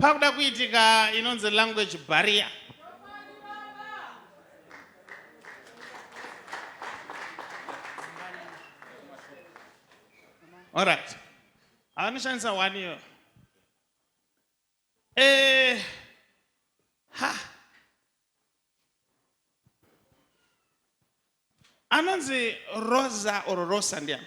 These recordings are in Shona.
pakuda kuitika inonzi language barrier Alright. Avanoshandisa one year. Eh, ha. Anonzi Rosa or Rosa ndiani?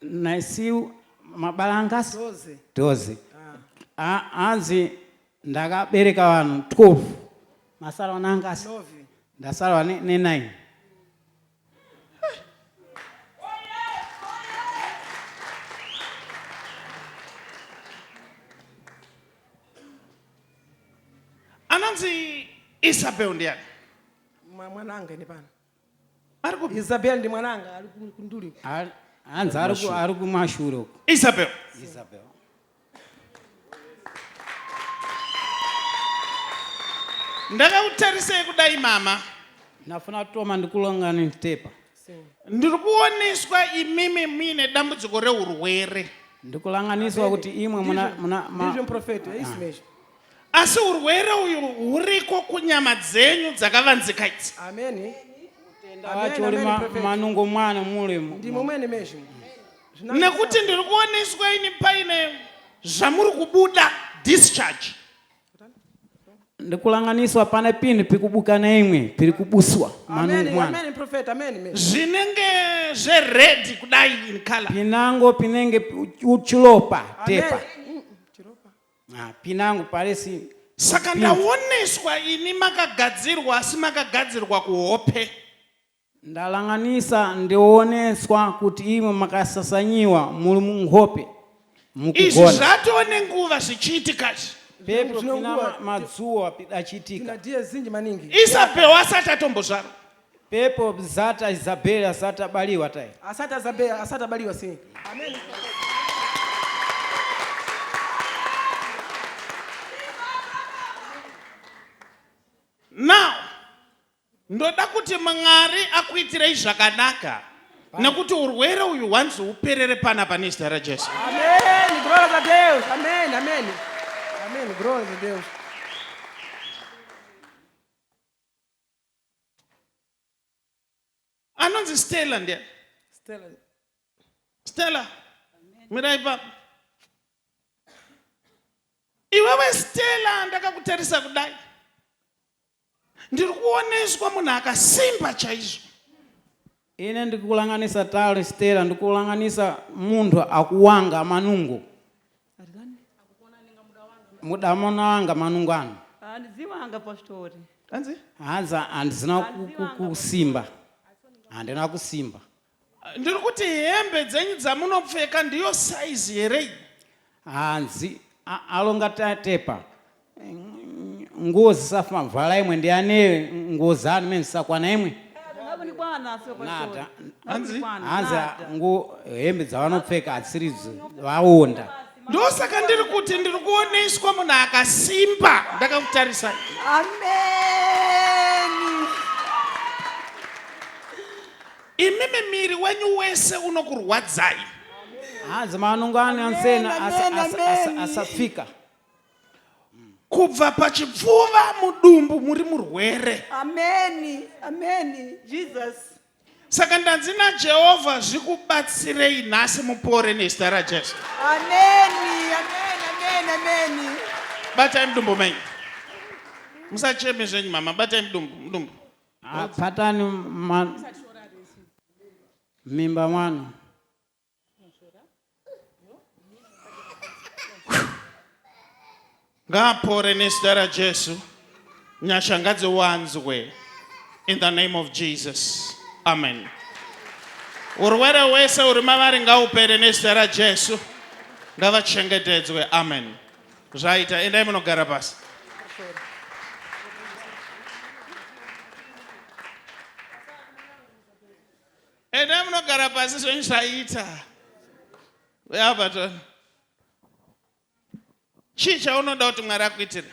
naisiu mabalangas Doze. doze Ah, A- hanzi ndakabereka vanhu 12 masara vanangasi Novi. ndasarwa ne- ne9 anonzi isabel ndiani Mwa- Mwana angaende pano. Ari kupi? Isabel ndi mwana anga ari ku- kunduli uko. Ari- hanzi ari ku- ari kumashure uko Isabel. isabel Ndakakutarisei kudai mama. ndafuna kutoma ndikulongani tepa So, Ndiri kuoneswa imimi muine dambudziko reurwere. ndikulanganiswa kuti imwe muna vision- muna ma- vision prophet, eh, isimesha. Asi urwere uyu huriko kunyama dzenyu dzakavanzika idzi. Amen. Acho uri manungo mwana mulemo. Ndimo mwene mezvo. Nekuti ndiri kuoneswa ini paine zvamuri kubuda discharge. Ndikulanganiswa pane pini pikubuka neimwe piri kubuswa manungo mwana. Amen prophet amen. Zvinenge zve red kudai in color. Pinango pinenge uchilopa tepa. Amen. Ah, pinangu parisi saka Pin- ndaoneswa ini makagadzirwa asi makagadzirwa kuhope ndalanganisa ndioneswa kuti imwe makasasanyiwa muri muhope izvi mukugona zvatove nenguva zvichiitika izvi pepyo Zvine pina nguva. ma- madzuwa tina achiitika diye zinji maningi isabel asati atombozvarwa Pepo bzata Isabel asati abaliwa tai. Asati azabea asati abaliwa sei. Now ndoda kuti Mwari akuitirei zvakanaka nekuti urwere uyu hwanzi huperere panapa nezita raJesu. Ameni. Glória a Deus. Ameni. Ameni. Ameni. Glória a Deus. anonzi stella ndiya stella stella mirai papa iwewe stella ndakakutarisa kudai ndiri kuoneswa munhu akasimba chaizvo Ine ndikulanganisa tale Stella ndikulanganisa munhu akuwanga manungo. Mudamona wanga manungo ano. Handiziwanga pastori. Hanzi? Hanzi handizina kusimba. Handina kusimba. Ndiri kuti hembe dzenyu dzamunopfeka ndiyo size here iyi? Hanzi alonga tatepa nguo zisafa vhala imwe ndiane nguo zanu mene zisakwana imwe nada hanzi nguo hembe dzavanopfeka hatsiridzo vaonda ndosaka ndiri kuti ndiri kuoneswa munhu akasimba ndakakutarisa amen Imimi miri wenyu wese unokurwadzai. Hanzi manungo ane ansena asi- Amen, asi- amen, asi- amen. asapfika. Kubva pachipfuva mudumbu muri murwere. Ameni. Ameni. Jesus. Saka ndanzi naJehovha zvikubatsirei nhasi mupore nezita raJesu. Ameni. Ameni. Ameni. Ameni. Batai mudumbu menyu. Musacheme zvenyu mama, batai mudumbu, mudumbu. Ah, patani ma- mimba mwana ngaapore nezita rajesu nyasha ngadziwanzwe in the name of jesus amen urwere wese uri mavari ngaupere nezita rajesu ngavachengetedzwe amen Zvaita, endai munogara pasi. Endai munogara pasi zvenyu zvaita. Uya patona. Chii chaunoda kuti Mwari akuitire?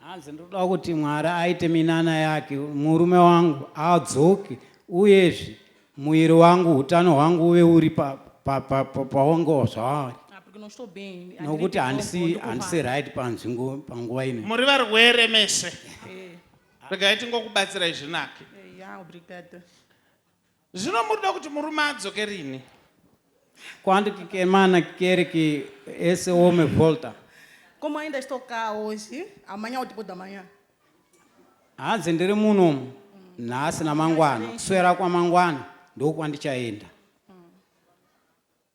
Hanzi ndinoda kuti Mwari aite minana yake murume wangu adzoke uyezve muviri wangu utano hwangu uve uri paongo zvaari nokuti handisi handisi right panzvingo panguva ino muri varwere mese eh. regai tingokubatsirai zvinake eh, Zvino muri kuda kuti murume adzoke rini? Quando que que mana quer que esse homem volta? Como ainda estou cá hoje, amanhã ou depois da manhã? Hanzi ndiri muno nhasi namangwana, kuswera kwamangwana ndokwandichaenda.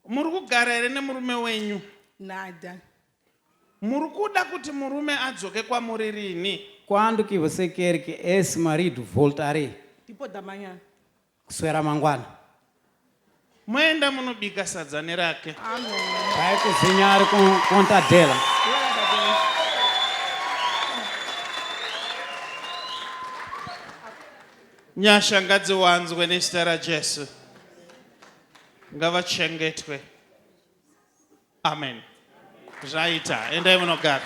Muri kugara here nemurume wenyu? Nada. Muri kuda kuti murume adzoke kwamuri rini? Quando que você quer que esse marido voltarei? Tipo da manhã. Kuswera mangwana. Moenda munobika sadza nerake. Amém. Vai cozinhar com conta dela. Nyasha ngadziwanzwe nezita raJesu. ngavachengetwe amen zvaita endai munogara